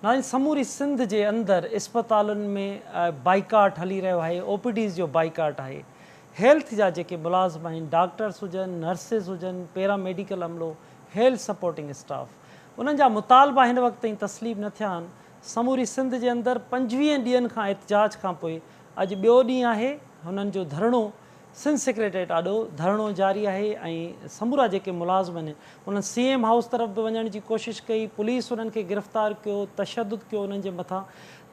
ناهن سموري سنڌ جي اندر اسپتالن ۾ بائيڪاٽ هلي رهيو آهي او پي ڊيز جو بائيڪاٽ آهي هيلٿ جا جيڪي ملازم آهن ڊاڪٽرس هجن نرسز هجن پيرا ميڊيڪل عملو هيلٿ سپورٽنگ اسٽاف انهن جا مطالبا هن وقت تائين تسليم نه ٿيا آهن سموري سنڌ جي اندر پنجويهن ڏينهن کان احتجاج کانپوء اڄ ٻيو ڏينهن آهي هنن جو ڌرڻو سنڌ سيڪريٽريٽ آڏو ڌرڻو جاري آهي ۽ سمورا جيڪي ملازم آهن انهن سي ايم هائوس طرف به وڃڻ جي ڪوشش ڪئي پوليس انهن کي گرفتار ڪيو تشدد ڪيو انهن جي مٿان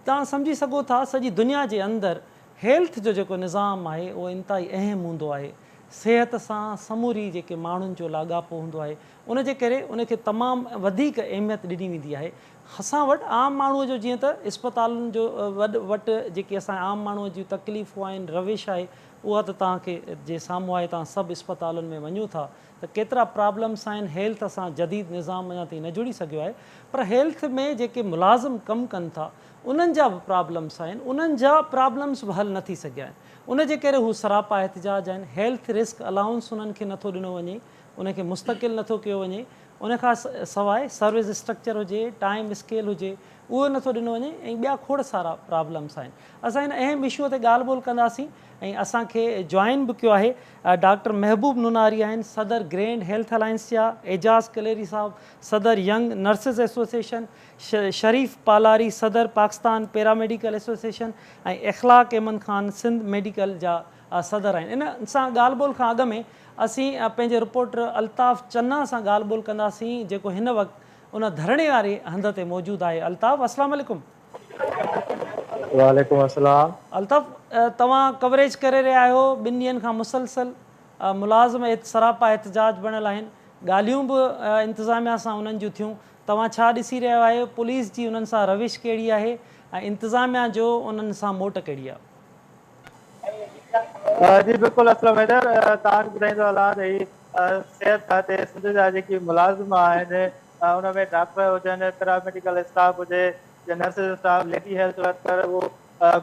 توهان سمجهي سگهو ٿا سڄي دنيا جي اندر هيلٿ جو جيڪو نظام آهي اهو انتهائي اهم هوندو آهي صحت سان سموري جيڪي ماڻهن جو لاڳاپو هوندو آهي ان جي ڪري ان کي تمام وڌيڪ اهميت ڏني ويندي آهي اسان وٽ عام ماڻهو جو جيئن ته اسپتالن جو وڏ وٽ جيڪي اسان عام ماڻهو جون تڪليفون آهن روش آهي اها ته توهان کي جي سامهون آهي توهان سب اسپتالن ۾ وڃو ٿا ته ڪيترا پرابلمس آهن هيلٿ سان جديد نظام اڃا تائين نه جڙي سگهيو آهي پر هيلٿ ۾ جيڪي ملازم ڪم ڪن ٿا انهن جا به پرابلمس آهن انهن جا پرابلمس به حل نه ٿي سگهيا آهن ان جي ڪري هو سراپا احتجاج آهن هيلٿ رسڪ الائونس انهن کي نه ٿو ڏنو وڃي ان کي مستقل نه ٿو ڪيو وڃي، ان کان سواء سروس اسٽرڪچر هجي، ٽائيم اسڪيل هجي، اهو نه ٿو ڏنو وڃي ۽ ٻيا کوڙ سارا پرابلمس آهن. اسان هن اهم اشوء تي ڳالهه ٻولهه ڪنداسين ۽ اسان کي جوائن به ڪيو آهي ڊاڪٽر محبوب نوناري آهن صدر گرينڊ هيلٿ الائنس جا، اعجاز ڪليري صاحب صدر young nurses association, Sharif Palari صدر پاڪستان پيراميڊيڪل ايسوسيئيشن ۽ اخلاق ايمن خان سنڌ ميڊيڪل جا صدر آهن. ان سان ڳالهه ٻولهه کان اڳ ۾ اسين پنهنجي رپورٽر الطاف چنا سان ڳالهه ٻولهه ڪنداسين جيڪو هن وقت ان ڌرڻي واري هنڌ تي موجود آهي. الطاف اسلام عليڪم. وعليڪم اسلام. الطاف توهان ڪوريج ڪري رهيا آهيو ٻن ڏينهن کان مسلسل ملازم سراپا احتجاج بڻيل آهن ڳالهيون به انتظاميا سان انهن جون ٿيون توهان ڇا ڏسي رهيا آهيو پوليس جي انهن سان روش ڪهڙي آهي ۽ انتظاميا جو انهن سان موٽ ڪهڙي آهي. جي بلڪل اسلم حيدر توهان کي ٻڌائيندو هلان ته هي صحت کاتي سنڌ جا جيڪي ملازم آهن ان ۾ ڊاڪٽر هجن پيراميڊيڪل اسٽاف هجي يا nurses staff lady health worker اهو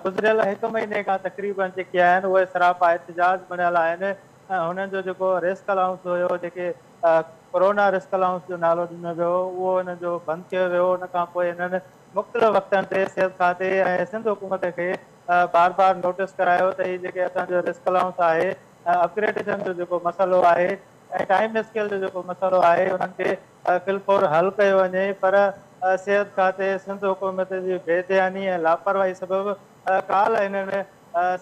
گذريل هڪ مهيني کان تقريبن جيڪي آهن اهي سراپا احتجاج بڻيل آهن هنن جو جيڪو رسڪ الائونس هيو جيڪي ڪورونا رسڪ الائونس جو نالو ڏنو ويو اهو هنن جو بند ڪيو ويو ان کان پوء هنن مختلف وقتن تي صحت کاتي ۽ سنڌ حڪومت کي بار بار نوٽس ڪرايو ته هي جيڪي اسان جو رسڪ الائونس آهي ۽ اپگريڊيشن جو جيڪو مسئلو آهي ۽ ٽائيم اسڪيل جو جيڪو مسئلو آهي انهن کي في الفور حل ڪيو وڃي پر صحت کاتي سنڌ حڪومت جي بي ڌياني ۽ لاپرواهي سبب ڪالهه هنن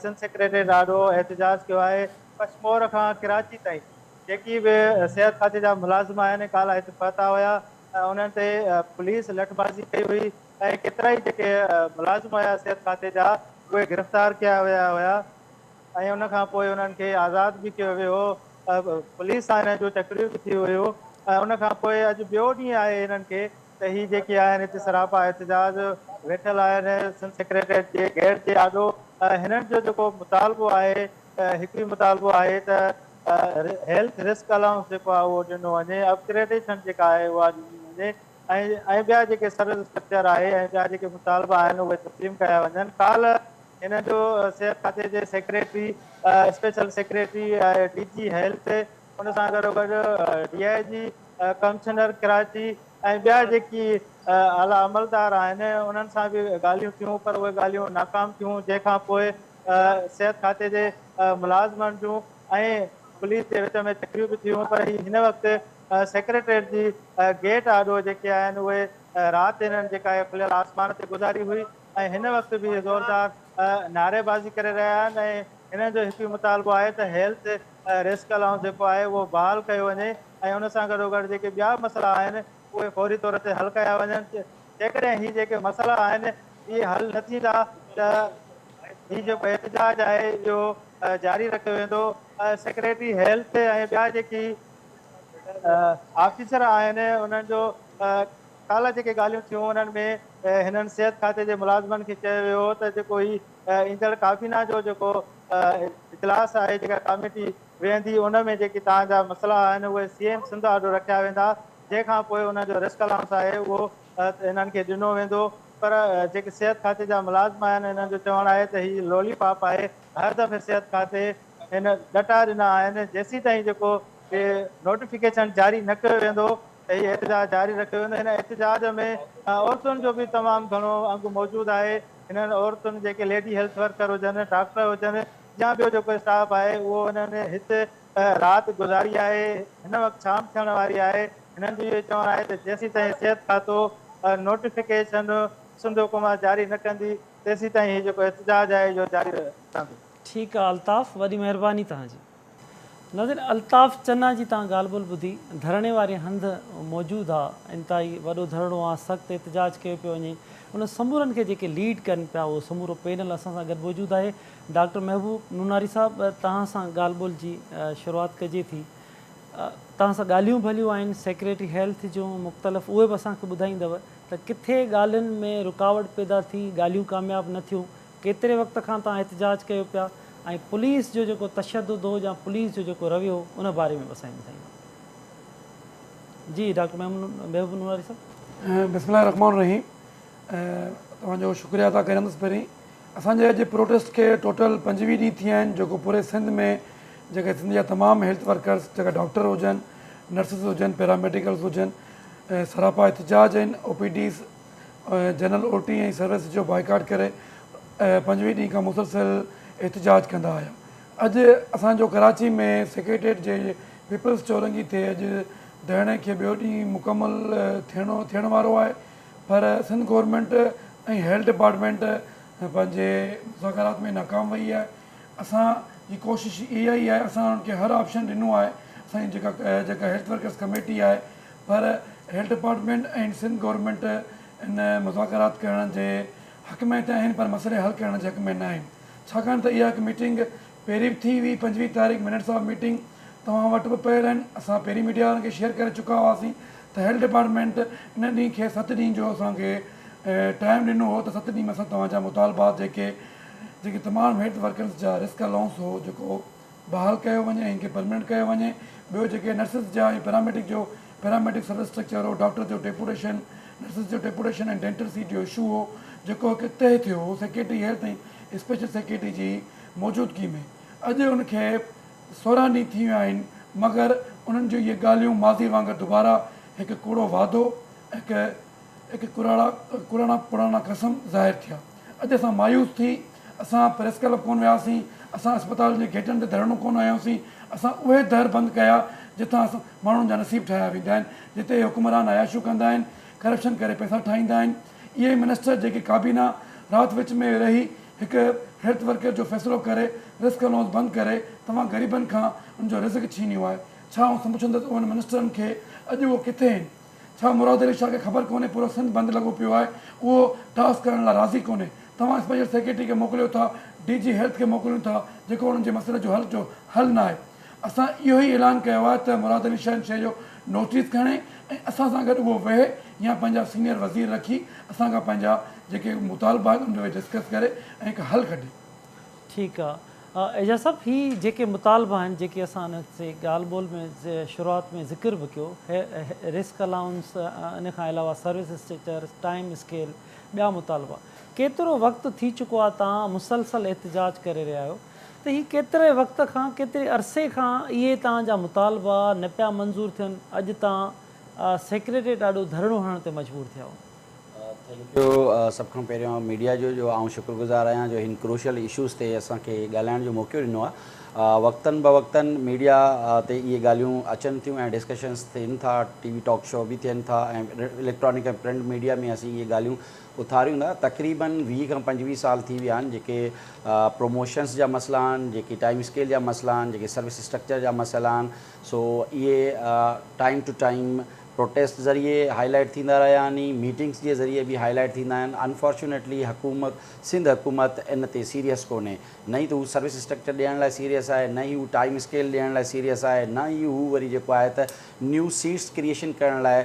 سنڌ سيڪريٽريٽ آڏو احتجاج ڪيو آهي ڪشمور کان ڪراچي تائين جيڪي به صحت کاتي جا ملازم آهن ڪالهه هت پهتا هيا انهن تي پوليس لٺبازي ڪئي هئي. ۽ ڪيترائي جيڪي ملازم هيا صحت کاتي جا اهي گرفتار ڪيا ويا هيا ۽ ان کان پوء انهن کي آزاد به ڪيو ويو هو پوليس سان انهن جون چڪريون به ٿي هيون ۽ ان کان پوء اڄ ٻيو ڏينهن آهي انهن کي ته هي جيڪي آهن هتي سراپا احتجاج ويٺل آهن سنڌ سيڪريٽريٽ جي گيٽ جي آڏو هنن جو جيڪو مطالبو آهي هڪ ئي مطالبو آهي ته هيلٿ رسڪ الائونس جيڪو آهي اهو ڏنو وڃي اپگريڊيشن جيڪا آهي اها ڏني وڃي ۽ ٻيا جيڪي سروس اسٽرڪچر آهي ۽ ٻيا جيڪي مطالبا آهن اهي تسليم ڪيا وڃن ڪالهه هن جو صحت کاتي جي secretary special secretary D G health ان سان گڏو گڏ D I G commissioner Karachi ۽ ٻيا جيڪي اعليٰ عملدار آهن انهن سان به ڳالهيون ٿيون پر اهي ڳالهيون ناڪام ٿيون جنهن کان پوء صحت کاتي جي ملازمن جون ۽ پوليس جي وچ ۾ تڪريون به ٿيون پر هي هن وقت سيڪريٽريٽ جي گيٽ آڏو جيڪي آهن اهي رات هنن جيڪا هي کليل آسمان تي گذاري هئي ۽ هن وقت به هي زوردار نعري بازي ڪري رهيا آهن ۽ هنن جو هڪ ئي مطالبو آهي ته هيلٿ رسڪ الائونس جيڪو آهي اهو بحال ڪيو وڃي ۽ ان سان گڏوگڏ جيڪي ٻيا به مسئلا آهن اهي فوري طور تي حل ڪيا وڃن جيڪڏهن هي جيڪي مسئلا آهن اهي حل نه ٿيندا ته هي جيڪو احتجاج آهي اهو جاري رکيو ويندو سيڪريٽري هيلٿ ۽ ٻيا جيڪي آفيسر آهن انهن جو ڪالهه جيڪي ڳالهيون ٿيون انهن ۾ هنن صحت کاتي جي ملازمن کي چيو ويو هو ته جيڪو هي ايندڙ ڪابينا جو جيڪو اجلاس آهي جيڪا ڪاميٽي ويهندي ان ۾ جيڪي تان جا مسئلا آهن اهي سي ايم سنڌ آڏو رکيا ويندا جنهن کان پوء ان جو رسڪ الائونس آهي اهو هنن کي ڏنو ويندو پر جيڪي صحت کاتي جا ملازم آهن انهن جو چوڻ آهي ته هي لولي پاپ آهي هر دفعي صحت کاتي هن ڏٽا ڏنا آهن جيسيتائين جيڪو هي نوٽيفڪيشن جاري نه ڪيو ويندو ته هي احتجاج جاري رکيو ويندو هن احتجاج ۾ عورتن جو به تمام گهڻو انگ موجود آهي هنن عورتن جيڪي ليڊي هيلٿ ورڪر هجن ڊاڪٽر هجن يا ٻيو جيڪو اسٽاف آهي اهو هنن هت رات گذاري آهي هن وقت شام ٿيڻ واري آهي هنن جو اهو چوڻ آهي ته جيسيتائين صحت کاتو نوٽيفڪيشن سنڌ حڪومت جاري نه ڪندي تيسيتائين هي جيڪو احتجاج آهي اهو جاري رهندو ٺيڪ آ الطاف وڏي مهرباني توهان جي. ناظرين الطاف چنا جي تان ڳالهه ٻولهه ٻڌي ڌرڻي واري هنڌ موجود ها انتهائي وڏو ڌرڻو ها سخت احتجاج ڪيو پيو وڃي ان سمورن کي جيڪي ليڊ ڪن پيا اهو سمورو پينل اسان سان گڏ موجود آهي ڊاڪٽر محبوب نوناري صاحب توهان سان ڳالهه ٻولهه جي شروعات ڪجي ٿي توهان سان ڳالهيون ڀليون آهن سيڪريٽري هيلٿ جون مختلف اهي به اسان کي ٻڌائيندو ته ڪٿي ڳالهين ۾ رڪاوٽ پيدا ٿي ڳالهيون ڪامياب نه ٿيون ڪيتري وقت کان توهان احتجاج ڪيو پيا ۽ پوليس جو جيڪو تشدد هو يا پوليس جو جيڪو رويو هو ان باري ۾ به اسان کي ٻڌائيندا. جي ڊاڪٽر محبوب نورالي صاحب. بسم الله الرحمٰن الرحيم توهان جو شڪريه ادا ڪريندس پهرين اسان جي اڄ پروٽيسٽ کي ٽوٽل پنجويهه ڏينهن ٿي ويا آهن جيڪو پوري سنڌ ۾ جيڪي سنڌ جا تمام هيلٿ ورڪرس جيڪا ڊاڪٽر هجن نرسز هجن پيراميڊيڪلس هجن سراپا احتجاج آهن O P Ds general اوٽي ۽ service جو بائيڪاٽ ڪري پنجويهه ڏينهن کان مسلسل احتجاج ڪندا آيا. اڄ اسان جو ڪراچي ۾ سيڪريٽريٽ جي پيپلز چورنگي تي اڄ ڌرڻي کي ٻيو ڏينهن مڪمل ٿيڻ وارو آهي پر سنڌ گورنمينٽ ۽ هيلٿ ڊپارٽمينٽ پنهنجي مذاڪرات ۾ ناڪام وئي آهي اسان جي ڪوشش اها ئي آهي اسان انهن کي هر آپشن ڏنو آهي اسان جي جيڪا هيلٿ ورڪرز ڪميٽي آهي پر هيلٿ ڊپارٽمينٽ ۽ سنڌ گورنمينٽ ان مذاڪرات ڪرڻ جي حق ۾ ته آهن پر مسئلي حل ڪرڻ جي حق ۾ نه آهن ڇاڪاڻ ته اها هڪ ميٽنگ پهرين به ٿي هئي پنجويهه تاريخ منٽس آف ميٽنگ توهان وٽ به پيل آهن اسان پهرين ميڊيا وارن کي شيئر ڪري چڪا هئاسين ته هيلٿ ڊپارٽمينٽ ان ڏينهن کي ست ڏينهن جو اسان کي ٽائيم ڏنو هو ته ست ڏينهن ۾ اسان توهان جا مطالبات جيڪي جيڪي تمام هيلٿ ورڪرز جا رسڪ الائونس هو جيڪو بحال ڪيو وڃي ۽ ان کي پرمننٽ ڪيو وڃي ٻيو جيڪي نرسز جا ۽ پيراميڊڪ جو پيراميڊڪ سروس اسٽرڪچر هو ڊاڪٽر جو ڊيپوٽيشن نرسز جو ڊيپوٽيشن ۽ ڊينٽل سيٽ جو اشو هو جيڪو هڪ تهه ٿيو هو سيڪريٽري هيلٿ ۽ اسپيشل سيڪريٽري جي موجودگي ۾ اڄ ان کي سورهن ڏينهن ٿي ويا آهن مگر انهن جون اهي ڳالهيون ماضي وانگر دوباره هڪ ڪوڙو وعدو هڪ اک ڪراڻا پراڻا قسم ظاهر ٿيا. اڄ اسان مايوس ٿي اسان پريس ڪلب ڪونه وياسين، اسان اسپتال جي گيٽن تي ڌرڻو ڪونه هنيوسين، اسان اهي در بند ڪيا جتان اسان ماڻهن جا نصيب ٺاهيا ويندا آهن، جتي اهي حڪمران عياشيون ڪندا آهن، ڪرپشن ڪري پئسا ٺاهيندا آهن، اهي منسٽر جيڪي ڪابينا رات وچ ۾ رهي هڪ هيلٿ ورڪر جو فيصلو ڪري رسڪ الائونس بند ڪري توهان غريبن کان ان جو رزق ڇينيو آهي، ڇا آئون سمجهندس انهن منسٽرن کي اڄ اهو ڪٿي هن؟ ڇا مراد علي شاهه کي خبر ڪونهي پورو سنڌ بند لڳو پيو آهي اهو ٽاس ڪرڻ لا راضي ڪونهي توهان اسپيشل سيڪريٽري کي موڪليو ٿا ڊي جي هيلٿ کي موڪليون ٿا جيڪو انهن جي مسئلي جو حل جو حل ناهي اسان اهو ئي اعلان ڪيو آهي ته مراد علي شاهه ان شيء جو نوٽيس کڻي ۽ اسان سان گڏ اهو ويهي يا پنهنجا سينيئر وزير رکي اسان کان پنهنجا جيڪي مطالبا آهن ان تي ويهي ڊسڪس ڪري ۽ هڪ حل ڪڍي. ٺيڪ آ ايجاز صاحب هي جيڪي مطالبا آهن جيڪي اسان انهن تي ڳالهه ٻولهه ۾ شروعات ۾ ذڪر به ڪيو رسڪ الائونس ان کان علاوه سروس اسٽريچر ٽائيم اسڪيل ٻيا مطالبا ڪيترو وقت ٿي چڪو آهي تان مسلسل احتجاج ڪري رهيا آهيو ته هي ڪيتري وقت کان ڪيتري عرصي کان اهي تان جا مطالبا نه پيا منظور ٿين اڄ تان سيڪريٽريٽ آڏو ڌرڻو هڻڻ تي مجبور ٿيا آهيو ٿينڪ يو سڀ کان پهريان ميڊيا جو جو آئون شڪر گذار آهيان جو هن ڪروشل اشوز تي اسان کي ڳالهائڻ جو موقعو ڏنو آهي وقتن بوقتن ميڊيا تي اهي ڳالهيون اچن ٿيون ۽ ڊسڪشنس ٿين ٿا ٽي وي ٽاڪ شو به ٿين ٿا ۽ اليڪٽرانڪ ۽ پرنٽ ميڊيا ۾ اسين اهي ڳالهيون اٿاريون ٿا تقريبن ويهه کان پنجويهه سال ٿي ويا آهن جيڪي پروموشنس جا مسئلا آهن جيڪي ٽائم اسڪيل جا مسئلا آهن جيڪي سروس اسٽرڪچر جا مسئلا آهن سو اهي ٽائم ٽو ٽائم پروٽيسٽ ذريعي هاء لائيٽ ٿيندا رهيا آهني ميٽنگس جي ذريعي به هاء لائيٽ ٿيندا آهن انفارچونيٽلي حڪومت سنڌ حڪومت ان تي سيريس ڪونهي نه ئي ته هو سروس اسٽرڪچر ڏيڻ لاء سيريس آهي نه ئي هو ٽائيم اسڪيل ڏيڻ لاء سيريس آهي نه ئي هو وري جيڪو آهي ته نيو سيٽس ڪريئيشن ڪرڻ لاء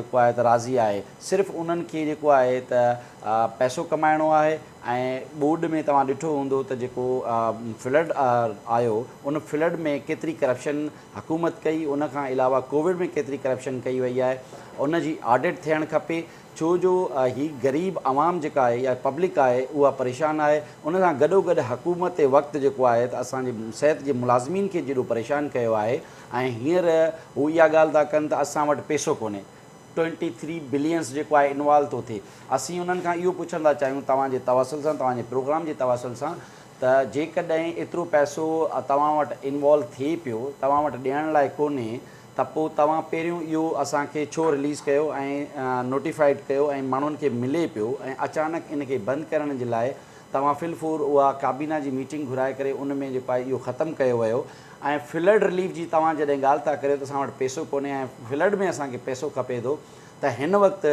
جيڪو آهي ته راضي آهي صرف انهن کي جيڪو آهي ته پئسو ڪمائڻو آهي ۽ ٻوڏ ۾ توهان ڏٺو هوندو ته جيڪو فلڊ آيو ان فلڊ ۾ ڪيتري ڪرپشن حڪومت ڪئي ان کان علاوه ڪووڊ ۾ ڪيتري ڪرپشن ڪئي وئي آهي ان جي آڊٽ ٿيڻ کپي ڇو جو هي غريب عوام جيڪا آهي يا پبلڪ آهي اها پريشان آهي ان سان گڏوگڏ حڪومت وقت جيڪو آهي ته اسان جي صحت جي ملازمين کي جيڏو پريشان ڪيو آهي ۽ هينئر هو اها ڳالهه ٿا ڪن ته اسان وٽ پيسو ڪونهي ٽوئنٽي ٿري بلينس جيڪو آهي انوالو ٿو ٿئي اسين انهن کان اهو پڇڻ ٿا چاهيون توهان جي توسل سان توهان جي پروگرام جي توسل سان ته جيڪڏهن ايترو پئسو توهان وٽ انوالو ٿئي پيو، توهان وٽ ڏيڻ لاء ڪونهي ته پوء توهان پهريون اهو اسان کي ڇو رليز ڪيو ۽ نوٽيفائيڊ ڪيو ۽ ماڻهن کي ملي پيو ۽ اچانڪ ان کي بند ڪرڻ جي لاء توهان في الفور اها ڪابينا جي ميٽنگ گهرائي ڪري ان ۾ جيڪو آهي اهو ختم ڪيو ويو ۽ فلڊ رليف جي توهان جڏهن ڳالهه ٿا ڪريو ته اسان وٽ پئسو ڪونهي ۽ فلڊ ۾ اسان کي پئسو کپي ٿو ته هن وقت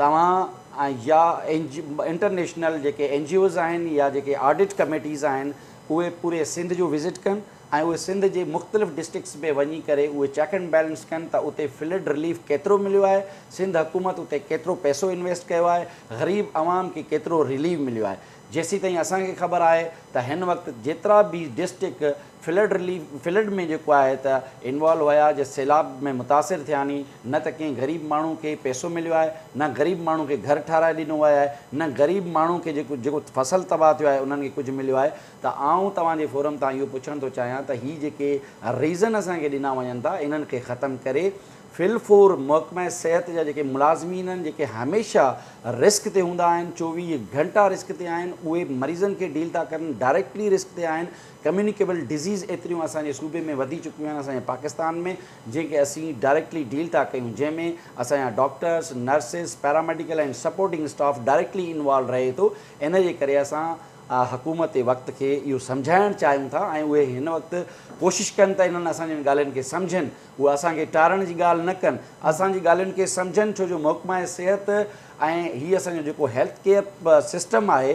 توهان يا انٽرنيشنل جيڪي اين جي اوز آهن يا جيڪي آڊٽ ڪميٽيز آهن اهي پوري سنڌ جو وزٽ ڪن ۽ اهي سنڌ جي مختلف ڊسٽرڪٽس ۾ وڃي ڪري اهي چيڪ اينڊ بيلنس ڪن ته اتي فلڊ رليف ڪيترو مليو آهي سنڌ حڪومت اتي ڪيترو پئسو انويسٽ ڪيو آهي غريب عوام کي ڪيترو رليف مليو آهي جيسيتائين اسان کي خبر آهي ته هن وقت جيترا به ڊسٽرڪٽ فلڊ رليف فلڊ ۾ جيڪو آهي ته انوالو هيا جي سيلاب ۾ متاثر ٿيا ني نه ته ڪنهن غريب ماڻهو کي پيسو مليو آهي نه غريب ماڻهو کي گهر ٺهرائي ڏنو ويو آهي نه غريب ماڻهو کي جيڪو جيڪو فصل تباهه ٿيو آهي انهن کي ڪجهه مليو آهي ته آئون توهان جي فورم تان اهو پڇڻ ٿو چاهيان ته هي جيڪي ريزن اسان کي ڏنا وڃن ٿا انهن کي ختم ڪري ڦلپور محڪمه صحت جا جيڪي ملازمين آهن جيڪي هميشه رسڪ تي هوندا آهن چوويهه گهنٽا رسڪ تي آهن اهي مريضن کي ڊيل ٿا ڪرن ڊائريڪٽلي رسڪ تي آهن ڪميونيڪيبل ڊزيز ايتريون اسان جي صوبي ۾ وڌي چڪيون آهن اسان جي پاڪستان ۾ جنهن کي اسين ڊائريڪٽلي ڊيل ٿا ڪيون جنهن ۾ اسان جا doctors nurses paramedical ۽ supporting staff directly involve رهي ٿو ان جي ڪري اسان حڪومت وقت کي اهو سمجهائڻ چاهيون ٿا ۽ اهي هن وقت ڪوشش ڪن ته انهن اسان جن ڳالهين کي سمجهن هو اسان کي ٽارڻ جي ڳالهه نه ڪن، اسان جي ڳالهين کي سمجهن ڇو جو محڪمه صحت ۽ هي اسان جو جيڪو هيلٿ ڪيئر سسٽم آهي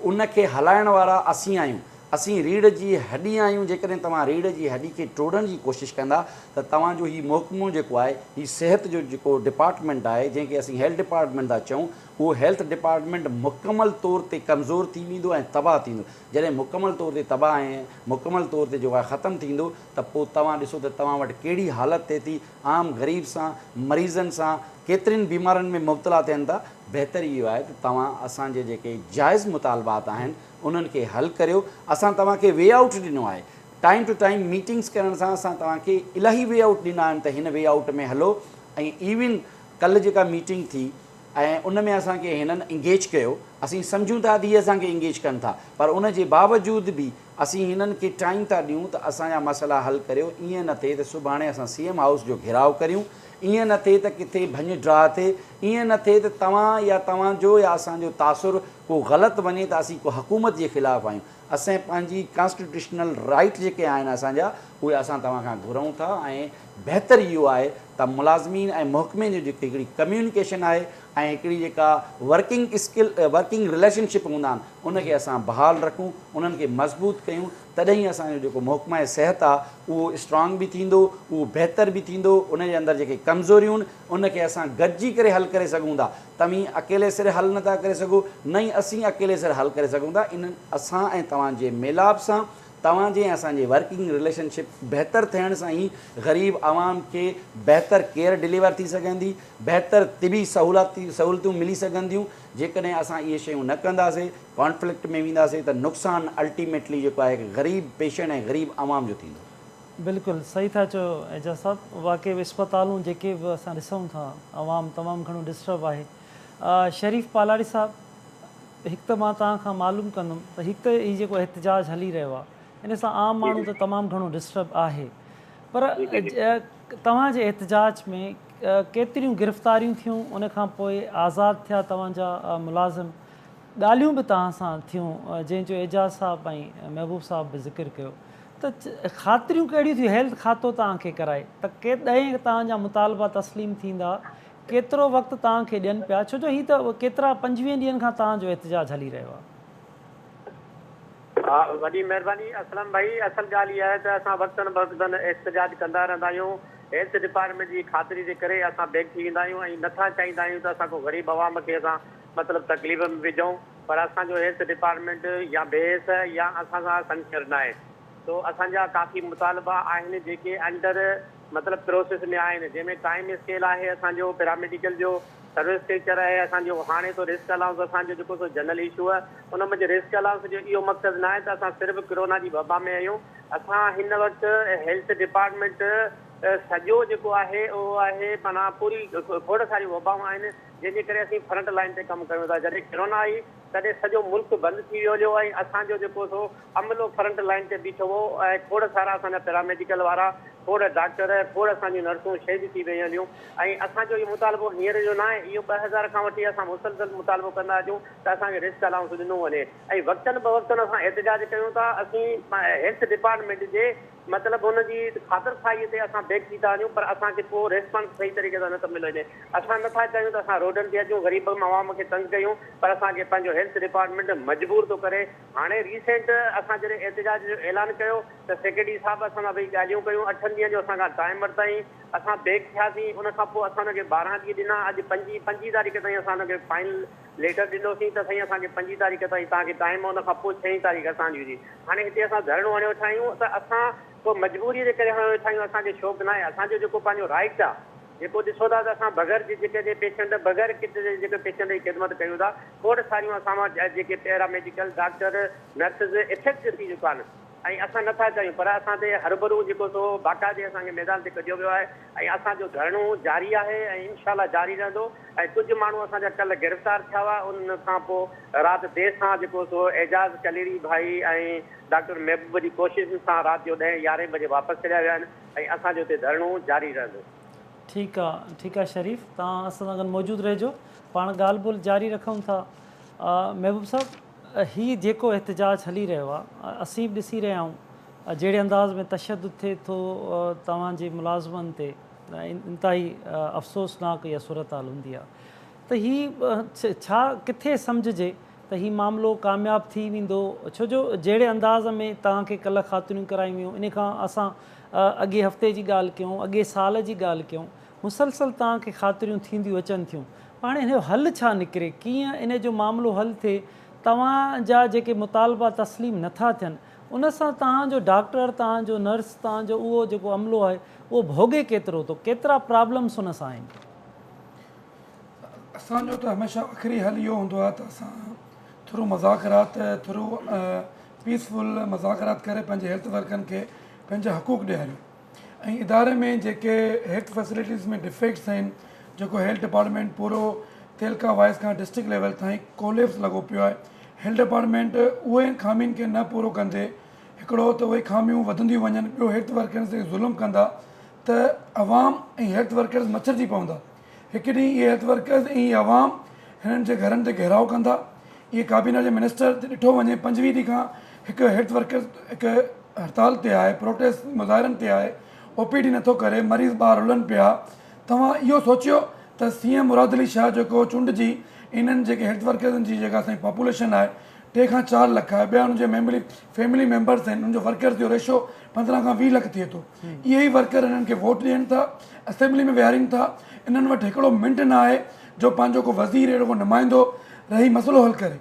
ان کي هلائڻ وارا اسين آهيون، اسين ريڙهه جي هڏي آهيون جيڪڏهن توهان ريڙهه جي هڏي کي ٽوڙڻ جي ڪوشش ڪندا ته توهان جو هي محڪمو جيڪو آهي هي صحت جو جيڪو ڊپارٽمينٽ آهي جنهن کي اسين هيلٿ ڊپارٽمينٽ ٿا چئون اهو هيلٿ ڊپارٽمينٽ مڪمل طور تي ڪمزور ٿي ويندو ۽ تباهه ٿيندو جڏهن مڪمل طور تي تباهه ۽ مڪمل طور تي جيڪو آهي ختم ٿيندو ته پوء توهان ڏسو ته توهان وٽ ڪهڙي حالت ٿئي ٿي، عام غريب سان، مريضن سان، ڪيترين بيمارين ۾ مبتلا ٿين ٿا. بهتر اهو آهي ته توهان اسان جي جيڪي جائز مطالبات آهن انهن کي حل ڪريو، اسان توهان کي وي آئوٽ ڏنو آهي، ٽائيم ٽو ٽائيم ميٽنگس ڪرڻ سان اسان توهان کي الاهي وي آئوٽ ڏنا آهن ته هن وي آئوٽ ۾ هلو ۽ ايون ڪلهه جيڪا ميٽنگ ٿي ۽ ان ۾ اسان کي هنن انگيج ڪيو، اسين سمجهون ٿا ته هي اسان کي انگيج ڪن ٿا پر ان جي باوجود به اسين هنن کي ٽائيم ٿا ڏيون ته اسان جا مسئلا حل ڪريو ائين نه ٿئي ته سڀاڻي اسان سي ايم هائوس جو گهيراء ڪريون ائين نه ٿئي ته ڪٿي ڀڃ ڊاء ٿئي ائين نه ٿئي ته توهان يا توهان جو يا اسان جو تاثر ڪو غلط وڃي ته اسين ڪو حڪومت جي خلاف آهيون اسين پنهنجي ڪانسٽيٽيوشنل رائيٽ جيڪي آهن اسان جا اهي اسان توهان کان گهرون ٿا ۽ بهتر اهو آهي ته ملازمين ۽ محڪمي جو جيڪي هڪڙي ڪميونيڪيشن آهي ۽ هڪڙي جيڪا working skill working relationship هوندا آهن ان کي اسان بحال رکون، انهن کي مضبوط ڪيون، تڏهن ئي اسان جو جيڪو محڪمه صحت آ، اهو اسٽرانگ به ٿيندو، اهو بهتر به ٿيندو، ان جي اندر جيڪي ڪمزوريون ان، ان کي اسان گڏجي ڪري حل ڪري سگهون ٿا. توهين اڪيلي سر حل نٿا ڪري سگهو، نه ئي اسين اڪيلي سر حل ڪري سگهون ٿا، انهن اسان ۽ توهان جي ميلاپ سان، توهان جي ۽ اسان جي ورڪنگ رليشن شپ بهتر ٿيڻ سان ئي غريب عوام کي بهتر ڪيئر ڊليور ٿي سگهندي، بهتر طبي سهولتون ملي سگهنديون، جيڪڏهن اسان اهي شيون نه ڪنداسين، ڪانفلڪٽ ۾ وينداسين ته نقصان الٽيميٽلي جيڪو آهي غريب پيشنٽ ۽ غريب عوام جو ٿيندو. بلڪل صحيح ٿا چئو اعجاز صاحب واقعي اسپتالون جيڪي به اسان ڏسون ٿا عوام تمام گهڻو ڊسٽرب آهي شريف پالاڙي صاحب هڪ ته مان توهان کان معلوم ڪندم ته هڪ ته هي جيڪو احتجاج هلي رهيو آهي ان سان عام ماڻهو ته تمام گهڻو ڊسٽرب آهي پر توهان جي احتجاج ۾ ڪيتريون گرفتاريون ٿيون ان کان پوء آزاد ٿيا توهان جا ملازم ڳالهيون به توهان سان ٿيون جنهن جو اعجاز صاحب ۽ محبوب صاحب به ذڪر ڪيو ته خاطريون ڪهڙيون ٿيون هيلٿ ڪاتو توهان کي ڪرائي ته ڪيڏانهن توهان جا مطالبا تسليم ٿيندا ڪيترو وقت توهان کي ڏين پيا ڇو جو هي ته ڪيترا پنجويهن ڏينهن کان توهان جو احتجاج هلي رهيو آهي. وڏي مهرباني اسلم ڀائي اصل ڳالهه اها آهي ته اسان وقتن بوقتن احتجاج ڪندا رهندا آهيون هيلٿ ڊپارٽمينٽ جي خاطري جي ڪري اسان بيگ ٿي ويندا آهيون ۽ نٿا چاهيندا آهيون ته اسان ڪو غريب عوام کي اسان مطلب تڪليف ۾ وجهون پر اسان جو هيلٿ ڊپارٽمينٽ يا بي ايس يا اسان سان سنسيئر ناهي سو اسان جا ڪافي مطالبا آهن جيڪي انڊر مطلب پروسيس ۾ آهن جنهن ۾ ٽائيم اسڪيل آهي اسان جو پيراميڊيڪل جو سروس ٽيچر اهي اسان جو هاڻي تو رسڪ الائونس اسان جو جيڪو سو جنرل ايشو آهي ان منجهه رسڪ الائونس جو اهو مقصد ناهي ته اسان صرف ڪرونا جي وبا ۾ آهيون اسان هن وقت هيلٿ ڊپارٽمينٽ سڄو جيڪو آهي اهو آهي معنيٰ پوري کوڙ ساريون وبائون آهن جنهن جي ڪري اسين فرنٽ لائين تي ڪم ڪريون ٿا جڏهن ڪرونا آئي تڏهن سڄو ملڪ بند ٿي ويو هليو ۽ اسان جو جيڪو سو عملو فرنٽ لائين تي بيٺو هو ۽ کوڙ سارا اسان جا پيراميڊيڪل وارا، کوڙ ڊاڪٽر، کوڙ اسان جون نرسون شهيد ٿي ويون هليون ۽ اسان جو اهو مطالبو هينئر جو ناهي، اهو ٻه هزار کان وٺي اسان مسلسل مطالبو ڪندا اچون ته اسان کي رسڪ الائونس ڏنو وڃي ۽ وقتن بوقتن اسان احتجاج ڪيون ٿا، اسين هيلٿ ڊپارٽمينٽ جي. مطلب هن جي خاطر خواهيء تي اسان بيڪ ٿي ٿا وڃون پر اسان کي ڪو ريسپانس صحيح طريقي سان نه ٿو مليو وڃي. اسان نه ٿا چاهيون ته اسان روڊن تي اچون غريب عوام کي تنگ ڪيون پر اسان کي پنهنجو هيلٿ ڊپارٽمينٽ مجبور ٿو ڪري. هاڻي ريسينٽ اسان جڏهن احتجاج جو اعلان ڪيو ته سيڪريٽري صاحب اسان سان ويهي ڳالهيون ڪيون اٺن ڏينهن جو اسان کان ٽائيم ورتائين اسان بيڪ ٿياسين ان کان پوء اسان هن کي ٻارهن ڏينهن ڏنا اڄ پنجين پنجين تاريخ تائين اسان هن کي فائنل ليٽر ڏنوسين ته سائين اسان کي پنجين تاريخ تائين توهان کي ٽائيم ان کان پوء ڇهين تاريخ اسان جي هاڻي هتي اسان ڌرڻو هڻيو ويٺا آهيون ته اسان ڪو مجبوري جي ڪري هڻيو ويٺا آهيون اسان کي شوق ناهي اسان جو جيڪو پنهنجو رائٽ آهي جيڪو ڏسو ٿا ته اسان بغير جي جيڪي جي پيشنٽ بغير ڪٽ جي جيڪي پيشنٽ جي خدمت ڪيون ٿا کوڙ ساريون اسان وٽ جيڪي paramedical doctor nurses affect ٿي چڪا آهن ۽ اسان نه ٿا ڪريون پر اسان تي هرڀرو جيڪو سو باقاعدي اسان کي ميدان تي ڪڍيو ويو آهي ۽ اسان جو ڌرڻو جاري آهي ۽ انشاء الله جاري رهندو ۽ ڪجهه ماڻهو اسان جا ڪلهه گرفتار ٿيا هئا ان کان پوء رات دير سان جيڪو سو اعجاز ڪليري ڀائي ۽ ڊاڪٽر محبوب جي ڪوششن سان رات جو ڏهين يارهين بجي واپس ڇڏيا ويا آهن ۽ اسان جو هتي ڌرڻو جاري رهندو. ٺيڪ آ ٺيڪ آ شريف توهان اسان سان گڏ موجود رهجو پاڻ ڳالهه ٻولهه جاري رکون ٿا محبوب صاحب هي جيڪو احتجاج هلي رهيو آ اسين به ڏسي رهيا آهيون جهڙي انداز ۾ تشدد ٿئي ٿو توهان جي ملازمن تي انتهائي افسوسناڪ اها صورتحال هوندي آ ته هي ڇا ڪٿي سمجهجي ته هي معاملو ڪامياب ٿي ويندو ڇو جو جهڙي انداز ۾ توهان کي ڪلهه خاطريون ڪرايون ويون ان کان اسان اڳي هفتي جي ڳالهه ڪيون اڳي سال جي ڳالهه ڪيون مسلسل توهان کي خاطريون ٿينديون اچن ٿيون پر هاڻي ان جو حل ڇا نڪري ڪيئن ان جو معاملو حل ٿئي توهان جا جيڪي مطالبا تسليم نٿا ٿين ان سان توهان جو ڊاڪٽر توهان جو نرس توهان جو اهو جيڪو عملو آهي اهو ڀوڳي ڪيترو ٿو ڪيترا پرابلمس ان سان آهن. اسان جو ته هميشه آخري حل اهو هوندو آهي ته اسان ٿرو مذاڪرات ٿرو پيس فل مذاڪرات ڪري پنهنجي هيلٿ ورڪرن کي پنهنجا حقوق ڏياريون. ۽ اداري ۾ جيڪي هيلٿ فيسلٽيز ۾ ڊفيڪٽس آهن جيڪو هيلٿ ڊپارٽمينٽ پورو تعلقه وائيز کان ڊسٽرڪٽ ليول تائين ڪوليپس لڳو پيو آهي هيلٿ ڊپارٽمينٽ اهي خامين کي نه پورو ڪندي هڪڙو ته اهي خاميون وڌنديون وڃن ٻيو هيلٿ ورڪرن تي ظلم ڪندا ته عوام ۽ هيلٿ ورڪرز مڇرجي پوندا. هڪ ڏينهن اهي هيلٿ ورڪرز ۽ هي عوام هنن جي گهرن تي گهيرائو ڪندا. اهي ڪابينا جي منسٽر تي ڏٺو وڃي پنجويهه ڏينهن کان هڪ هيلٿ ورڪر هڪ هڙتال تي آهي پروٽيسٽ مظاهرن تي آهي او پي ڊي نٿو ڪري مريض ٻاهر رلن پيا توهان اهو سوچيو ته سي ايم مراد علي شاهه جيڪو چونڊجي انهن جيڪي هيلٿ ورڪرزن جي جيڪا اسان جي پاپوليشن آهي ٽي کان چار لک آهي ٻيا ان جي ميمبري فيملي ميمبرز آهن ان جو ورڪرز جو ريشو پندرهن کان ويهه لک ٿئي ٿو. اهي ئي ورڪر انهن کي ووٽ ڏين ٿا، اسيمبلي ۾ ويهارين ٿا. انهن وٽ هڪڙو منٽ نه آهي جو پنهنجو ڪو وزير اهڙو ڪو نمائندو رهي مسئلو حل ڪري.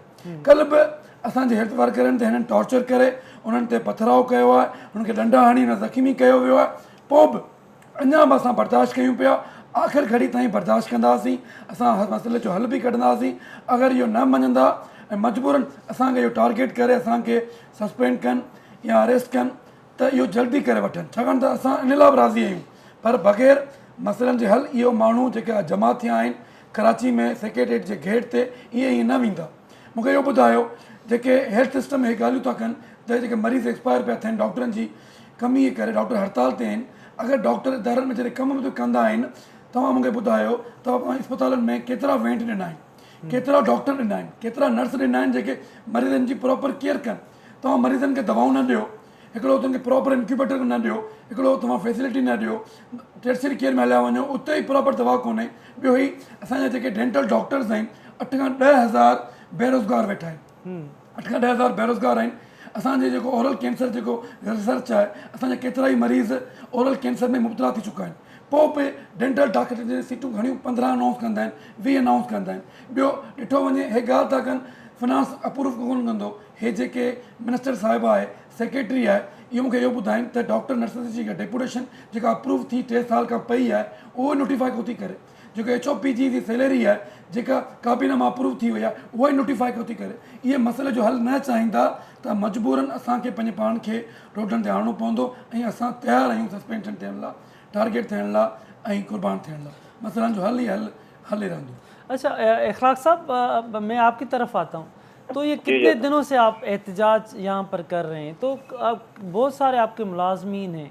ڪلهه به اسان جي هيلٿ ورڪرن تي هنن ٽارچر ڪري انهن تي پٿراء ڪيو آهي، انهن کي ڏنڊا هڻي انهن زخمي ڪيو ويو آهي. پوء به اڃا به اسان برداشت ڪيون پيا، آخر گهڙي تائين برداشت ڪنداسين. اسان هر مسئلي جو حل به ڪڍنداسين. اگر اهو نه مڃندا ۽ مجبورن اسان کي اهو ٽارگيٽ ڪري اسان کي سسپينڊ ڪن يا اريسٽ ڪن ته اهو جلدي ڪري وٺن ڇاڪاڻ ته اسان ان لاء به راضي آهيون پر بغير مسئلن جي حل اهي ماڻهو جيڪي اڄ جمع ٿيا آهن ڪراچي ۾ سيڪريٽريٽ جي گيٽ تي ائين ائين نه ويندا مون کي اهو ٻڌايو جيڪي هيلٿ سسٽم اهي ڳالهيون ٿا ڪن ته جيڪي مريض ايڪسپائر پيا ٿين ڊاڪٽرن جي ڪمي جي ڪري ڊاڪٽر هڙتال تي آهن اگر ڊاڪٽر ادارن ۾ جڏهن ڪم به ڪندا آهن توهان مون کي ٻڌايو توهان اسپتالن ۾ ڪيترا وينٽ ڏنا آهن ڪيترا ڊاڪٽر ڏنا آهن ڪيترا نرس ڏنا آهن جيڪي مريضن جي پراپر ڪيئر ڪن توهان مريضن کي دوائون نه ڏيو هڪڙو اتن کي پراپر انڪيوبيٽر نه ڏيو هڪڙو توهان فيسلٽي نه ڏيو ٽيرسري ڪيئر ۾ هليا وڃو اتي ئي پراپر دوا ڪونهي ٻيو هي اسان جا جيڪي ڊينٽل ڊاڪٽرز آهن اٺ کان ڏهه هزار بيروزگار ويٺا آهن اٺ کان ڏهه هزار بيروزگار آهن اسان جي جيڪو اورل ڪينسر جيڪو ريسرچ آهي اسان جا ڪيترا ئي مريض اورل ڪينسر ۾ مبتلا ٿي چڪا آهن پوء به ڊينٽل ڊاڪٽرن جي سيٽون گهڻيون پندرهن انائونس ڪندا آهن ويهه انائونس ڪندا آهن ٻيو ڏٺو وڃي هي ڳالهه ٿا ڪن فنانس اپروف ڪونه ڪندو هي جيڪي منسٽر صاحبه آهي سيڪريٽري آهي اهو مونکي اهو ٻڌائين ته ڊاڪٽر نرسز جي جيڪا ڊيپوٽيشن جيڪا اپروف ٿي ٽي سال کان پئي آهي اهو نوٽيفائي ڪوتي ڪري جيڪو ايڇ او پي جي جي سيلري آهي جيڪا ڪابينا مان اپروو ٿي وئي آهي اها ئي نوٽيفائي ڪوتي ڪري اهي مسئلي جو حل نه چاهيندا ته مجبورن اسان کي پنهنجي پاڻ کي روڊن تي آڻڻو پوندو ۽ اسان تيار آهيون سسپينشن ٿيڻ لا ٽارگيٽ ٿيڻ لا ۽ قربان ٿيڻ لا مسئلن جو حل ئي حل حل رهندو. اچھا اخلاق صاحب مين آپ ڪي طرف آتا هون تو يه ڪتني دنو سي آپ احتجاج يهان پر ڪر رهي هين تو بهت ساري آپ ڪي ملازمين هين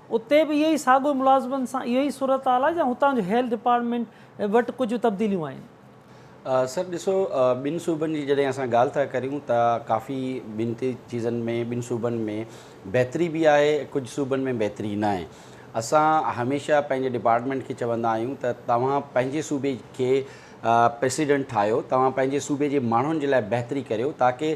اتي به اهو ئي ساڳيو ملازمن سان اهو ئي صورتحال آهي يا هتان جو هيلٿ ڊپارٽمينٽ وٽ ڪجهه تبديليون آيون؟ سر ڏسو ٻن صوبن جي جڏهن اسان ڳالهه ٿا ڪريون ته ڪافي ٻن ٽي چيزن ۾ ٻن صوبن ۾ بهتري به آهي ڪجهه صوبن ۾ بهتري ناهي اسان هميشه پنهنجي ڊپارٽمينٽ کي چوندا آهيون ته توهان پنهنجي صوبي کي پريسيڊنٽ ٺاهيو توهان پنهنجي صوبي جي ماڻهن جي لاء بهتري ڪريو تاڪه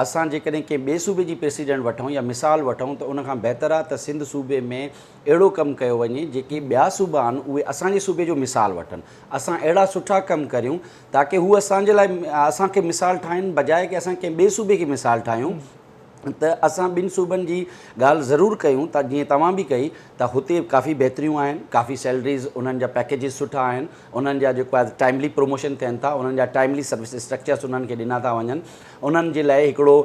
اسان جيڪڏهن ڪنهن ٻئي صوبي جي پريسيڊنٽ وٺون يا مثال وٺون ته ان کان بهتر آهي ته سنڌ صوبي ۾ اهڙو ڪم ڪيو وڃي جيڪي ٻيا صوبا آهن اهي اسان جي صوبي جو مثال وٺن اسان اهڙا سٺا ڪم ڪريون تاڪه هو اسان جي لاء اسان کي مثال ٺاهين بجاء ڪي اسان ڪنهن ٻئي صوبي کي مثال ٺاهيون ته اسان ٻن صوبن جي ڳالهه ضرور ڪيون ته جيئن توهان به ڪئي ته هتي ڪافي بهتريون آهن ڪافي سيلريز انهن جا پيڪيجز سٺا آهن انهن جا جيڪو آهي ٽائملي پروموشن ٿين ٿا انهن جا ٽائملي سروس اسٽرڪچرس انهن کي ڏنا ٿا وڃن انهن جي لاء هڪڙو